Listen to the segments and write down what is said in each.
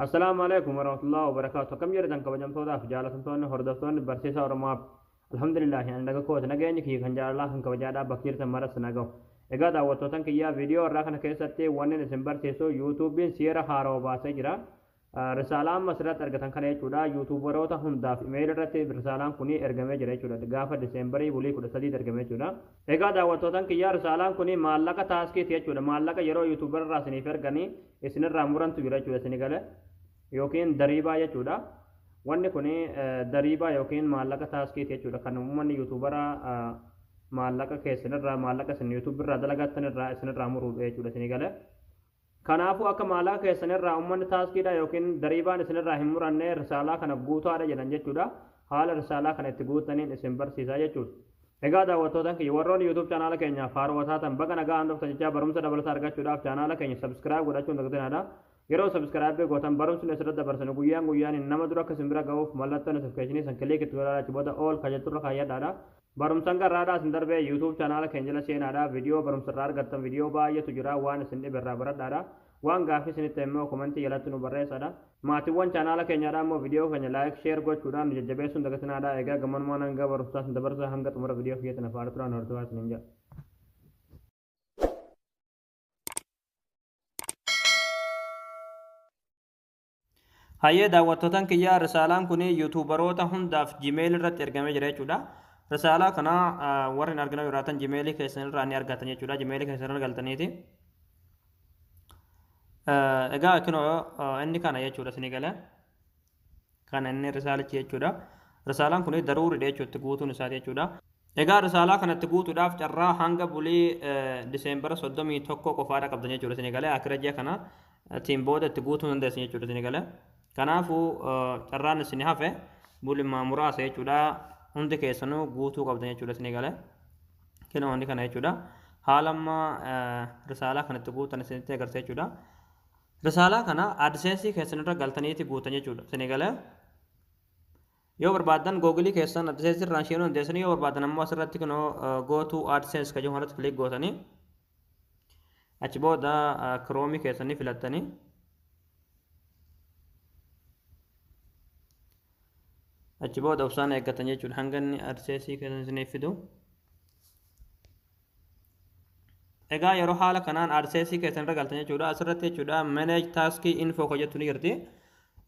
Assalaamu alaikum warahmatullahi wabarakaatu akkam jirtan kabajamtootaaf jaalatamtoonni hordoftoonni barsiisaa oromoo app alhamdulillahi ani naga kooti nageenyi kiyya kan jaalalaa kan kabajaadhaa bakka jirtan maras na gahu egaa daawwattootan kiyyaa viidiyoo irraa kana keessatti wannin isin barsiisu yuutuubiin seera haarawa baasee jira risaalaa amma asirratti argatan kana jechuudha yuutuubaroota hundaaf imeeyil irratti risaalaan kun ergamee jira jechuudha gaafa diseembarii bulii kudha sadii ergamee jechuudha Egaa daawwattootan kiyyaa risaalaan kuni maallaqa taaskiiti jechuudha maallaqa yeroo youtuber irraa isiniif erganii isinirraa murantu jira jechuudha isini gale yookiin dariibaa jechuudha wanni kuni dariibaa yookiin maallaqa taaskiiti jechuudha kan uummanni youtubera maallaqa keessanirraa maallaqa isin youtube irraa dalagattan irraa isinirraa muruudha jechuudha isini gale Kanaafuu akka maallaqa keessan irraa ummanni taaskiidhaa ykn dariibaan isin irraa hin muranne risaalaa kana guutaadha jedhan jechuudha. Haala risaalaa kana itti guuttaniin isin barsiisaa jechuudha. Egaa daawwattootan kiyya warroonni YouTube chanaala keenyaaf haarowa taatan baga nagahaan dhuftan jechaa barumsa dabalataa argachuudhaaf chanaala keenya subscribe godhachuu hin dagtinaadha. Yeroo subscribe gootan barumsi nu asirratti dabarsinu guyyaan guyyaaniin nama dura akka isin bira gahuuf mallattoo notification san click itti godhaa achi booda all ka jetturra kaayyadhaadha. Barumsa hanga irraadhaa isin darbee YouTube channel keenya jala seenaadha video barumsa irraa argattan video baay'eetu jira waan isin dhibe irraa baradhaadha waan gaaffii isinitti ta'e immoo komentii jalatti nu barreessaadha maatiiwwan channel keenyaadha immoo video keenya like share gochuudhaan nu jajjabeessuun dagatinaadha egaa gammanumaan hanga barumsaa isin dabarsa hanga xumura video kiyyaatti na faana turaan hordofaa isiniin jedha. Hayyee daawwattootan kiyyaa risaalaan kun yuutuubaroota hundaaf jimeelii irratti ergamee jira jechuudha. Risaalaa kana warri hin argina jiraatan jimeelii keessan irraa ni argatan jechuudha. Jimeelii keessan irra galtaniiti. Egaa kunoo inni kana jechuudha isinii galee. Kana inni risaalichi jechuudha. Risaalaan kun daruuridha jechuudha guutuun isaati jechuudha. Egaa risaalaa kanatti guutuudhaaf carraa hanga bulii Diseembara 31 qofaadha qabdan jechuudha isin egalee akira ji'a kana tiin booda itti guutuu dandeessan jechuudha isin egalee. Kanaafuu carraan isin hafe bulimaa muraasa jechuudha hundi keessanuu guutuu qabdan jechuudha isin egalee. Kina hundi kana jechuudha. Haala amma risaalaa kanatti guutan isinitti agarsiisa jechuudha. Risaalaa kana AdSense keessanirra galtaniiti guutan jechuudha isin egalee. Yoo barbaaddan Google keessan AdSense irraan seenuu dandeessanii yoo barbaaddan ammoo asirratti kunoo Go to AdSense kan jedhu kanarratti click gootanii achi booda Chrome keessanii filattanii achi booda obsaan eeggatan jechuudha hanga inni AdSense keessan isiniif fidu. Egaa yeroo haala kanaan AdSense keessan irra galtan jechuudha asirratti jechuudha manage task info kan jettu ni jirti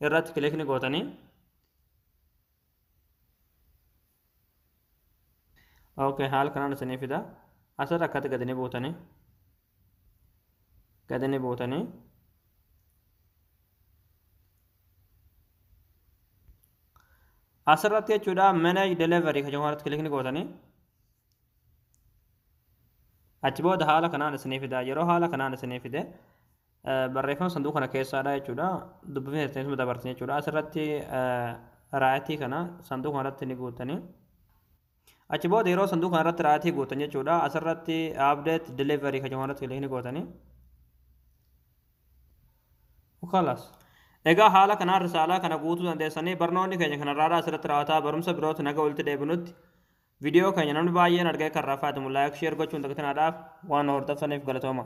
irratti click ni gootanii. ok haala kanaan isinii fida asirra akkatti gadi ni buutanii gadi ni buutanii asirratti jechuudha manage delivery kan jedhamu kilikni gootanii achi booda haala kanaan isinii fida yeroo haala kanaan isinii fide barreeffama sanduuqa kana keessaadha jechuudha. Dubbifni keessan isuma dabartan jechuudha. Asirratti raayitii kana sanduuqa kanarratti ni guutanii. Achi booda yeroo sanduuqa kanarratti raayitii guutan jechuudha. Asirratti update delivery kan jedhamu irratti ni gootanii. Kalas. Egaa haala kanaan risaalaa kana guutuu dandeessanii barnoonni keenya kanarraadha asirratti raawwataa barumsa birootti naga walitti deebinutti viidiyoo keenya namni baay'een argee kan rafaa laayik sheer gochuun dagatinaadhaaf waan hordoftaniif galatooma.